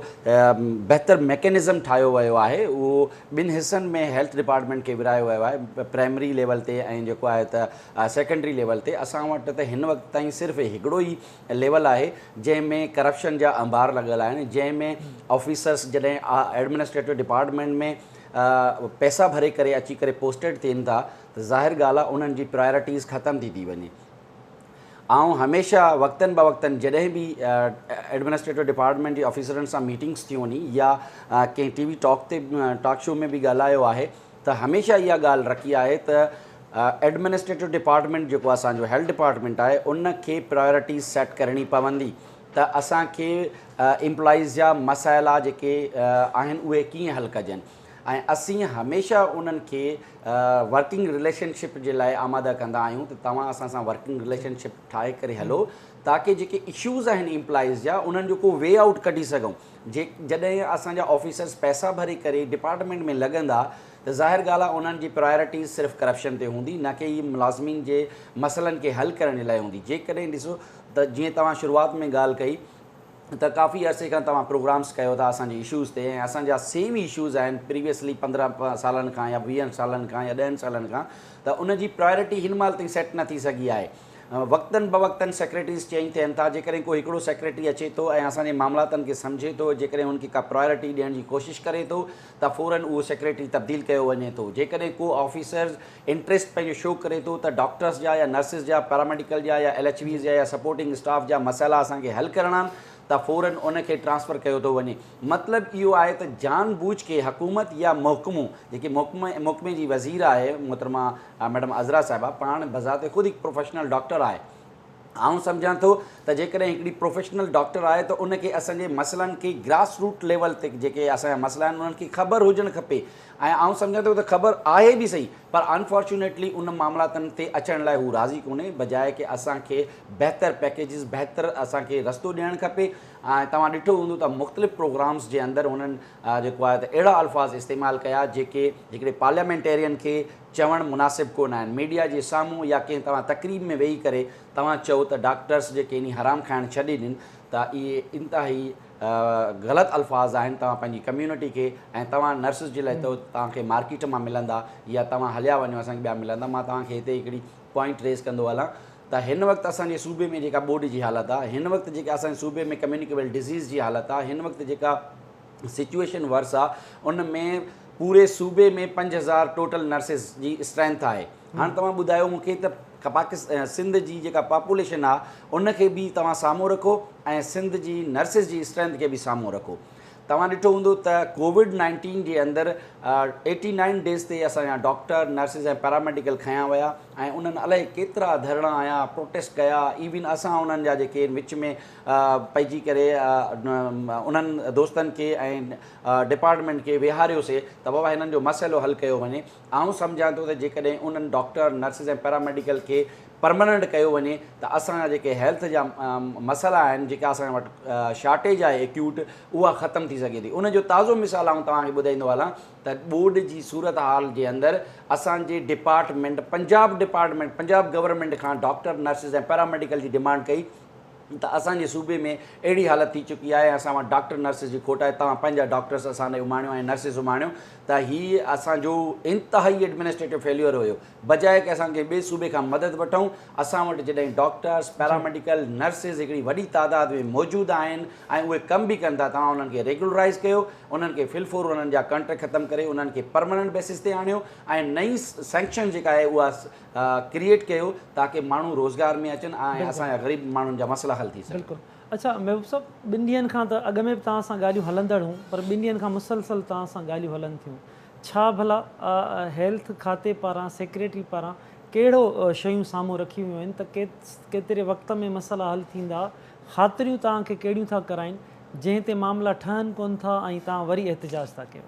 بهتر ميڪينزم ٺاهيو ويو آهي اهو ٻن حصن ۾ هيلٿ ڊپارٽمينٽ کي ورهايو ويو آهي پرائمري ليول تي ۽ جيڪو آهي ته سيڪنڊري ليول تي اسان وٽ ته هن وقت تائين صرف هڪڙو ئي ليول آهي جنهن ۾ ڪرپشن جا انبار لڳل آهن جنهن ۾ آفيسرس جڏهن ايڊمنسٽريٽو ڊپارٽمينٽ ۾ پئسا ڀري ڪري اچي ڪري پوسٽيڊ ٿين ٿا ته ظاهر ڳالهه آهي انهن جي پرايورٽيز ختم ٿي ٿي وڃي آئون هميشه وقتن بوقتن جڏهن به ايڊمنسٽريٽو ڊپارٽمينٽ جي آفيسرن سان ميٽنگس ٿيون ني يا ڪنهن ٽي وي ٽاڪ تي ٽاڪ شو ۾ به ڳالهايو آهي ته هميشه اها ڳالهه رکي آهي ته ايڊمنسٽريٽو ڊپارٽمينٽ جيڪو اسان جو هيلٿ ڊپارٽمينٽ آهي ان کي پرايورٽي سيٽ ڪرڻي پوندي ته اسان کي ايمپلائيز جا مسئلا جيڪي آهن اهي ڪيئن حل ڪجن ۽ اسين هميشه انهن کي ورڪنگ رليشن شپ جي لاء آماده ڪندا آهيون ته توهان اسان سان ورڪنگ رليشن شپ ٺاهي ڪري هلو تاڪه جيڪي اشوز آهن ايمپلائيز جا انهن جو ڪو وي آئوٽ ڪڍي سگهون جڏهن اسان جا آفيسرز پئسا ڀري ڪري ڊپارٽمينٽ ۾ لڳندا ته ظاهر ڳالهه آهي انهن جي پرايورٽيز صرف ڪرپشن تي هوندي نه ڪي هي ملازمين جي مسئلن کي حل ڪرڻ جي لاء هوندي جيڪڏهن ڏسو ته جيئن توهان شروعات ۾ ڳالهه ڪئي ته ڪافي عرصي کان توهان پروگرامز ڪيو ٿا اسان جي اشوز تي ۽ اسان جا سيم ئي اشوز آهن پريويسلي پندرهن سالن کان يا ويهن سالن کان يا ڏهن سالن کان ته ان جي پرايورٽي هن مهل تائين سيٽ نه ٿي سگهي آهي وقتن بوقتن سيڪريٽريز چينج ٿين ٿا، جيڪڏهن ڪو هڪڙو سيڪريٽري اچي ٿو ۽ اسان جي معاملاتن کي سمجهي ٿو، جيڪڏهن هن کي ڪا پرائرٽي ڏيڻ جي ڪوشش ڪري ٿو ته فورا اهو سيڪريٽري تبديل ڪيو وڃي ٿو، جيڪڏهن ڪو آفيسرز انٽريسٽ پنهنجو شو ڪري ٿو ته ڊاڪٽرس جا يا نرسز جا، پيراميڊيڪل جا يا ايل ايڇ ويز جا يا سپورٽنگ اسٽاف جا مسئلا اسان کي حل ڪرڻا آهن ته فورا ان کي ٽرانسفر ڪيو ٿو وڃي، مطلب اهو آهي ته جان بوجهه ڪي حڪومت يا محڪمو جيڪي محڪمي جي وزير آهي محترمه ها ميڊم عذرا صاحبه پاڻ بذات خود هڪ پروفيشنل ڊاڪٽر آهي. آئون سمجهان ٿو ته جيڪڏهن هڪڙي پروفيشنل ڊاڪٽر آهي ته ان کي اسان جي مسئلن کي گراس روٽ ليول تي جيڪي اسان جا مسئلا آهن انهن کي خبر هجڻ کپي ۽ آئون سمجهان ٿو ته خبر آهي به صحيح پر انفارچونيٽلي ان معاملاتن تي اچڻ لاء هو راضي ڪونهي بجاء ڪي اسان کي بهتر پيڪيجز بهتر اسان کي رستو ڏيڻ کپي ۽ توهان ڏٺو هوندو ته مختلف پروگرامز جي اندر هنن جيڪو آهي ته اهڙا الفاظ استعمال ڪيا جيڪي هڪڙي پارليامينٽيرين کي چوڻ مناسب ڪو نه آهن ميڊيا جي سامهون يا ڪنهن توهان تقريب ۾ ويهي ڪري توهان چئو ته ڊاڪٽرس جيڪي انهي حرام کائڻ ڇڏي ڏن ته اهي انتهائي غلط الفاظ آهن توهان پنهنجي ڪميونٽي کي ۽ توهان نرسز جي لاء چئو ته توهان کي مارڪيٽ مان ملندا يا توهان هليا وڃو اسان کي ٻيا ملندا مان توهان کي هتي هڪڙي پوائنٽ ريز ڪندو هلان ته هن وقت اسان جي صوبي ۾ جيڪا ٻوڏ جي حالت آ هن وقت جيڪا اسان جي صوبي ۾ ڪميونيڪيبل ڊزيز جي حالت آ هن وقت جيڪا سچوئيشن ورس آ ان ۾ پوري صوبي ۾ پنج هزار ٽوٽل نرسز جي اسٽرينٿ آهي هاڻ توهان ٻڌايو مون کي ته پاڪستان سنڌ جي جيڪا پاپوليشن آ ان کي به توهان سامهون رکو ۽ سنڌ جي نرسز جي اسٽرينٿ کي به سامهون رکو توهان ڏٺو هوندو ته ڪووڊ نائنٽين جي اندر ايٽي نائن ڊيز تي اسان جا ڊاڪٽر، نرسز ۽ پيراميڊيڪل کنيا ويا ۽ انهن الائي ڪيترا ڌرڻا هنيا، پروٽيسٽ ڪيا، ايون اسان انهن جا جيڪي وچ ۾ پئجي ڪري انهن دوستن کي ۽ ڊپارٽمينٽ کي ويهاريوسي ته بابا هنن جو مسئلو حل ڪيو وڃي. آئون سمجهان ٿو ته جيڪڏهن انهن ڊاڪٽر، نرسز ۽ پيراميڊيڪل کي پرماننٽ ڪيو وڃي ته اسان جا جيڪي هيلٿ جا مسئلا آهن، جيڪا اسان وٽ شارٽيج آهي ايڪيوٽ، اها ختم ٿي سگهي ٿي. ان جو تازو مثال آئون توهان کي ٻڌائيندو هلان ته ٻوڏ جي صورتحال جي اندر اسان جي department, Punjab department, Punjab government کان ڊاڪٽر، نرسز ۽ پيراميڊيڪل جي ڊمانڊ ڪئي، ته اسان جي صوبي ۾ اهڙي حالت ٿي چڪي آهي ۽ اسان وٽ ڊاڪٽر نرسز جي کوٽ آهي توهان پنهنجا ڊاڪٽرس اسان ڏي اماڻيو ۽ نرسز اماڻيو ته هي اسان جو انتهائي ايڊمنسٽريٽو فيليور هيو بجاء ڪي اسان ڪنهن ٻئي صوبي کان مدد وٺون اسان وٽ جڏهن ڊاڪٽرس پيراميڊيڪل نرسز هڪڙي وڏي تعداد ۾ موجود آهن ۽ اهي ڪم به ڪن ٿا توهان انهن کي ريگولرائز ڪيو انهن کي فل فور انهن جا ڪانٽريڪٽ ختم ڪري انهن کي پرماننٽ بيسز تي آڻيو ۽ نئين سينڪشن جيڪا آهي اها ڪريئيٽ ڪيو تاڪه ماڻهو روزگار ۾ اچن ۽ اسان جا غريب ماڻهن جا مسئلا حل ٿي سگهن. اڇا محبوب صاحب ٻن ڏينهن کان ته اڳ ۾ به توهان سان ڳالهيون هلندڙ هون پر ٻن ڏينهن کان مسلسل توهان سان ڳالهيون هلن ٿيون ڇا ڀلا هيلٿ کاتي پاران سيڪريٽري پاران ڪهڙو شيون سامهون رکيون ويون آهن ته ڪيتري وقت ۾ مسئلا حل ٿيندا خاطريون توهان کي ڪهڙيون ٿا ڪرائين جنهن تي معاملا ٺهن ڪونه ٿا ۽ توهان وري احتجاج ٿا ڪيو.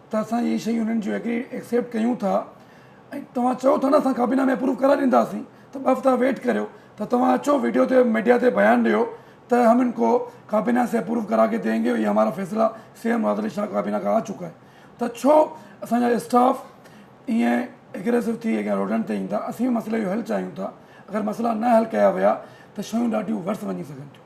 ته اسان اهي شيون انهن جون ايگري ايڪسيپٽ ڪيون ٿا ۽ توهان چئو ٿا نه اسان ڪابينا ۾ اپروو ڪرائي ڏينداسين ته ٻه هفتا ويٽ ڪريو ته توهان اچو ويڊيو تي ميڊيا تي بيان ڏيو ته هم ان ڪو ڪابينا سي اپروو ڪرا ڪي دين گي اي همارا فيصلا سي ايم مراد علي شاهه ڪابينا کان آ چڪا هي ته ڇو اسان جا اسٽاف ائين اگريسو ٿي اڳيان روڊن تي ايندا اسين به مسئلي جو حل چاهيون ٿا اگر مسئلا نه حل ڪيا ويا ته شيون ڏاڍيون ورس وڃي سگهن ٿيون.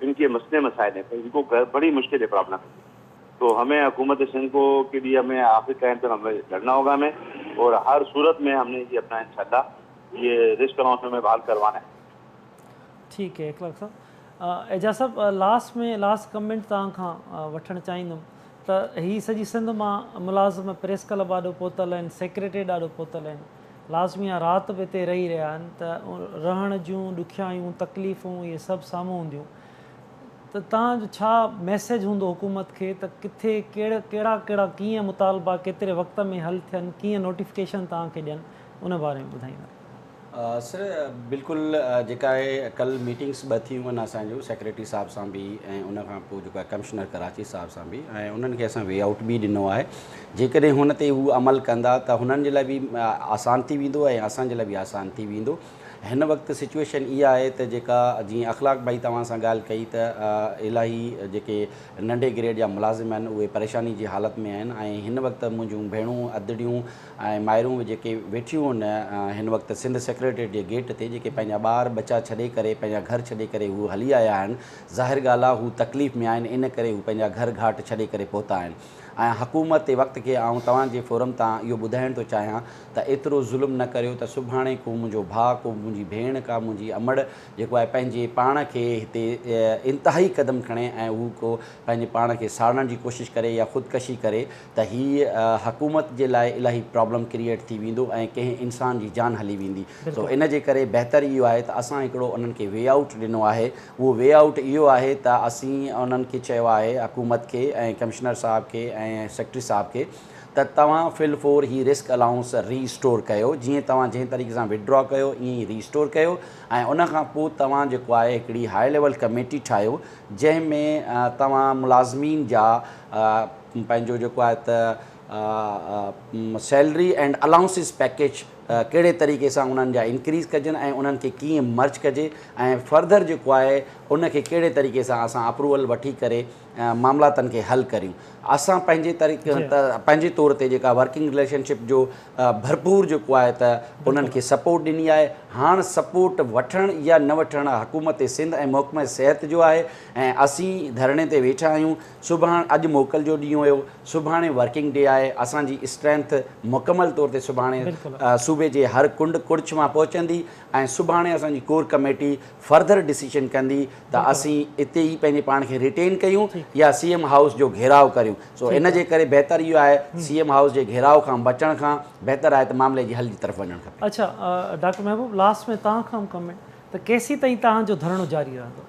ان ڪي مسلي مسائل هين پر ان ڪو گهر بڙي مشڪل هي پرابلم هي تو همين حڪومت سنڌ ڪو ڪي ليه همين آخري ٽائم تڪ همين لڙنا هوگا همين اور هر صورت مين همني هي اپنا انشاء الله هي رسڪ اناؤنس مين بحال ڪروانا هين. ٺيڪ هي اخلاق صاحب. اعجاز صاحب لاسٽ مين لاسٽ ڪمينٽ توهان کان وٺڻ چاهيندم ته هي سڄي سنڌ مان ملازم پريس ڪلب آڏو پهتل هين سيڪريٽريٽ آڏو پهتل هين لازمي آ رات به اتي رهي رهيا آهن ته رهڻ جون ڏکيائيون تڪليفون اهي سڀ سامهون هونديون ته تان جو ڇا ميسيج هوندو حڪومت کي ته ڪٿي ڪهڙ ڪهڙا ڪهڙا ڪيئن مطالبا ڪيتري وقت ۾ حل ٿين ڪيئن نوٽيفڪيشن تان کي ڏين ان باري ۾ ٻڌائيندا. سر بلڪل جيڪا اهي ڪل ميٽنگس ٻه ٿيون آهن اسان جون سيڪريٽري صاحب سان به ۽ ان کان پوء جيڪو آهي ڪمشنر ڪراچي صاحب سان به ۽ انهن کي اسان وي آئوٽ به ڏنو آهي جيڪڏهن هن تي هو عمل ڪندا ته هنن جي لاء به آسان ٿي ويندو ۽ اسان جي لاء به آسان ٿي ويندو. هن وقت سچوئيشن اها آهي ته جيڪا جيئن اخلاق ڀائي توهان سان ڳالهه ڪئي ته الاهي جيڪي ننڍي گريڊ جا ملازم آهن اهي پريشاني جي حالت ۾ آهن ۽ هن وقت منهنجون ڀيڻون ادڙيون ۽ مائرون به جيڪي ويٺيون ان هن وقت سنڌ سيڪريٽريٽ جي گيٽ تي جيڪي پنهنجا ٻار ٻچا ڇڏي ڪري پنهنجا گهر ڇڏي ڪري هو هلي آيا آهن ظاهر ڳالهه آهي هو تڪليف ۾ آهن ان ڪري هو پنهنجا گهر گهاٽ ڇڏي ڪري پهتا آهن. آهيان حڪومت تي وقت کي آئون توهان جي فورم تان اهو ٻڌائڻ ٿو چاهيان ته ايترو ظلم نه ڪريو ته سڀاڻي ڪو منهنجو ڀاء ڪو منهنجي ڀيڻ ڪا منهنجي امڙ جيڪو آهي پنهنجي پاڻ کي هتي انتهائي قدم کڻي ۽ هو ڪو پنهنجي پاڻ کي ساڙڻ جي ڪوشش ڪري يا خودڪشي ڪري ته هي حڪومت جي لاء الاهي پرابلم ڪريئيٽ ٿي ويندو ۽ ڪنهن انسان جي جان هلي ويندي سو ان جي ڪري بهتر اهو آهي ته اسان هڪڙو انهن کي وي آئوٽ ڏنو آهي اهو وي آئوٽ اهو آهي ته اسين انهن کي چيو آهي حڪومت کي ۽ ڪمشنر صاحب کي ۽ سيڪريٽري صاحب کي ته توهان في الفور هي رسڪ الائونس ري اسٽور ڪيو جيئن توهان جنهن طريقي سان وٿڊرا ڪيو ائين ئي ري اسٽور ڪيو ۽ ان کان پوء توهان جيڪو آهي هڪڙي هاء ليول ڪميٽي ٺاهيو جنهن ۾ توهان ملازمين جا پنهنجو جيڪو آهي ته سيلري اينڊ الائونسز پيڪيج ڪهڙي طريقي سان انهن جا انڪريز ڪجن ۽ انهن کي ڪيئن مرج ڪجي ۽ فرڌر جيڪو آهي ان کي ڪهڙي طريقي سان اسان اپروول وٺي ڪري معاملاتن کي حل ڪريون اسان پنهنجي طريقي جي. پنهنجي طور تي جيڪا ورڪنگ رليشن شپ جو ڀرپور جيڪو آهي ته انهن کي سپورٽ ڏني آهي هاڻ سپورٽ وٺڻ يا نه وٺڻ حڪومت سنڌ ۽ محڪمه صحت جو آهي ۽ اسين ڌرڻي تي ويٺا آهيون سڀاڻ اڄ موڪل جو ڏينهن هيو سڀاڻي ورڪنگ ڊي آهي اسان جي اسٽرينٿ مڪمل طور تي سڀاڻي صوبي جي هر ڪنڊ ڪڙڇ مان پهچندي ۽ سڀاڻي اسان جي ڪور ڪميٽي فرڌر ڊسيشن ڪندي ته اسين اتي ئي پنهنجي پاڻ کي ريٽين ڪيون يا سي ايم هائوس جو گهيراء ڪريون سو ان جي ڪري بهتر اهو آهي سي ايم هائوس جي گهيراء کان بچڻ کان بهتر آهي ته معاملي جي حل جي طرف وڃڻ کپي. اڇا ڊاڪٽر محبوب لاسٽ ۾ توهان کان ڪمينٽ ته ڪيسين تائين توهان جو ڌرڻو جاري رهندو؟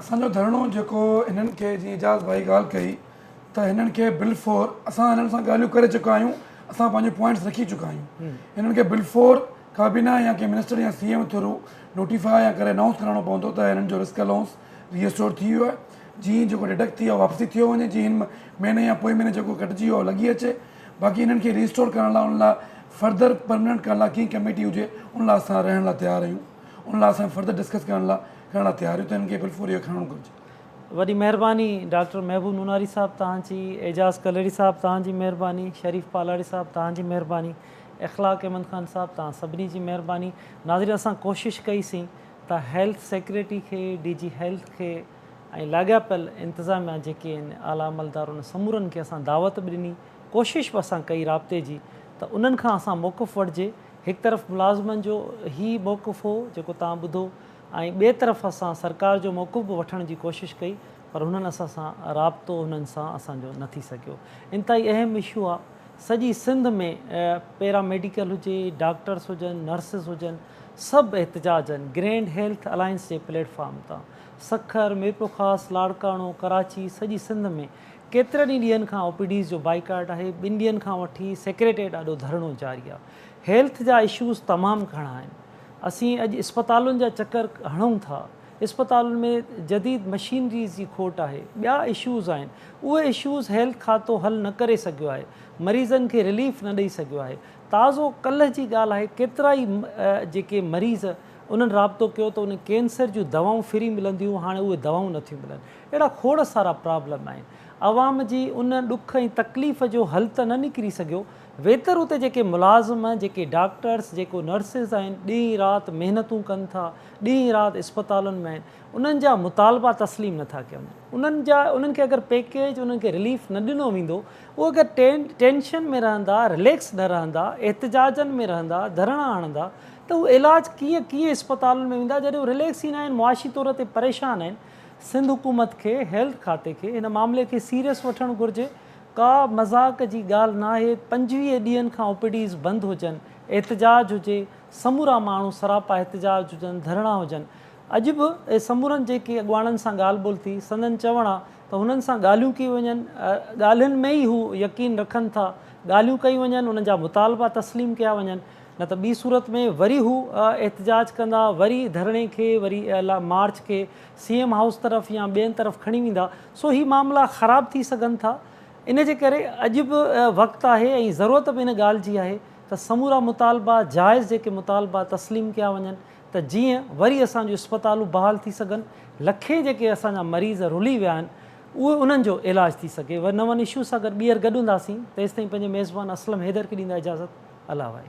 اسان جو ڌرڻو جيڪو هنن کي جيئن اعجاز ڀائي ڳالهه ڪئي ته هنن کي بلفور اسان هنن سان ڳالهيون ڪري چڪا آهيون اسان پنهنجو پوائنٽس رکي چڪا آهيون هنن کي بلفور ڪابينا يا ڪنهن منسٽر يا سي ايم ٿرو نوٽيفاء يا ڪري انائونس ڪرائڻو پوندو ته هنن جو رسڪ الائونس ري اسٽور ٿي ويو آهي جي جيڪو ڊڊڪٽ ٿي ويو آهي واپسي ٿيو وڃي جي هن مهيني يا پوئين مهيني جيڪو ڪٽجي ويو آهي لڳي اچي باقي هنن کي ري اسٽور ڪرڻ لاء ان لاء فرڌر پرمننٽ ڪرڻ لاء ڪنهن ڪميٽي هجي ان لاء اسان رهڻ لاء تيار آهيون. ان لاء اسان فرڌر ڊسڪس ڪرڻ لاء ڪرڻ لاء تيار آهيون ته هن کي بل فور ايئر کڻڻو گهرجي. وڏي مهرباني ڊاڪٽر محبوب نوناري صاحب توهان جي، اعجاز ڪلهڙي صاحب توهان جي مهرباني، شريف پالاڙي صاحب توهان جي مهرباني، اخلاق احمد خان صاحب توهان سڀني جي مهرباني. ناظرين اسان ڪوشش ڪئي سين ته هيلٿ سيڪريٽري کي، ڊي جي هيلٿ کي ۽ لاڳاپيل انتظاميا جيڪي آهن اعليٰ عملدار ان سمورن کي اسان دعوت به ڏني، ڪوشش به اسان ڪئي رابطي جي ته انهن کان اسان موقف وٺجي. هڪ طرف ملازمن جو هي موقف هو جيڪو توهان ٻڌو ۽ ٻئي طرف اسان سرڪار جو موقف به وٺڻ جي ڪوشش ڪئي پر هنن اسان سان رابطو هنن سان اسان جو نه ٿي سگهيو انتهائي اهم اشو آ سڄي سنڌ ۾ پيرا ميڊيڪل هجي ڊاڪٽرس هجن نرسز هجن سڀ احتجاجن گرينڊ هيلٿ الائنس جي پليٽ فارم تان سکر ميرپورخاص لاڙڪاڻو ڪراچي سڄي سنڌ ۾ ڪيترن ئي ڏينهن کان او پي ڊيز جو بائيڪاٽ آهي، ٻن ڏينهن کان وٺي سيڪريٽريٽ آڏو ڌرڻو جاري آهي، هيلٿ جا اشوز تمام گهڻا آهن، اسين اڄ اسپتالن جا چڪر هڻون ٿا، اسپتالن ۾ جديد مشينريز جي کوٽ آهي، ٻيا اشوز آهن، اهي اشوز هيلٿ کاتو حل نه ڪري سگهيو آهي، مريضن کي رليف نه ڏئي سگهيو آهي، تازو ڪلهه جي ڳالهه آهي ڪيترا ئي جيڪي مريض انهن رابطو ڪيو ته انهن کي ڪينسر جون دوائون فري ملنديون هاڻي اهي دوائون نٿيون ملن، اهڙا کوڙ سارا پرابلم آهن. عوام جي ان ڏک ۽ تڪليف جو حل ته نه نڪري سگهيو. ويتر اتي جيڪي ملازم، جيڪي ڊاڪٽرس، جيڪو نرسز آهن، ڏينهن رات محنتون ڪن ٿا، ڏينهن رات اسپتالن ۾ آهن، انهن جا مطالبا تسليم نه ٿا ڪيا وڃن. انهن جا انهن کي اگر پيڪيج، انهن کي رليف نه ڏنو ويندو، اهي اگر ٽينشن ۾ رهندا، رليڪس نه رهندا، احتجاجن ۾ رهندا، ڌرڻا هڻندا ته اهي علاج ڪيئن، ڪيئن اسپتالن ۾ ويندا جڏهن اهي رليڪس ئي نه آهن، معاشي طور تي پريشان آهن. سنڌ حڪومت کي هيلٿ کاتي کي هن معاملي کي سيريس وٺڻ گهرجي ڪا مذاق جي ڳالهه ناهي پنجويهه ڏينهن کان او پي ڊيز بند هجن احتجاج هجي سمورا ماڻهو سراپا احتجاج هجن ڌرڻا هجن اڄ به سمورن جيڪي اڳواڻن سان ڳالهه ٻولهه ٿي سندن چوڻ آ ته هنن سان ڳالهيون ڪيون وڃن ڳالهين ۾ ئي هو يقين رکن ٿا ڳالهيون ڪيون وڃن انهن جا مطالبا تسليم ڪيا وڃن نه ته ٻي صورت ۾ وري هو احتجاج ڪندا، وري ڌرڻي کي، وري مارچ کي سي ايم هائوس طرف يا ٻين طرف کڻي ويندا، سو هي معاملا خراب ٿي سگهن ٿا، ان جي ڪري اڄ به وقت آهي ۽ ضرورت به ان ڳالهه جي آهي ته سمورا مطالبا جائز جيڪي مطالبا تسليم ڪيا وڃن ته جيئن وري اسان جون اسپتالون بحال ٿي سگهن، لکين جيڪي اسان جا مريض رلي ويا آهن اهو انهن جو علاج ٿي سگهي ور نون اشو سان گڏ ٻيهر گڏ هونداسين تيستائين پنهنجي ميزبان اسلم حيدر کي ڏيندا اجازت الله وائي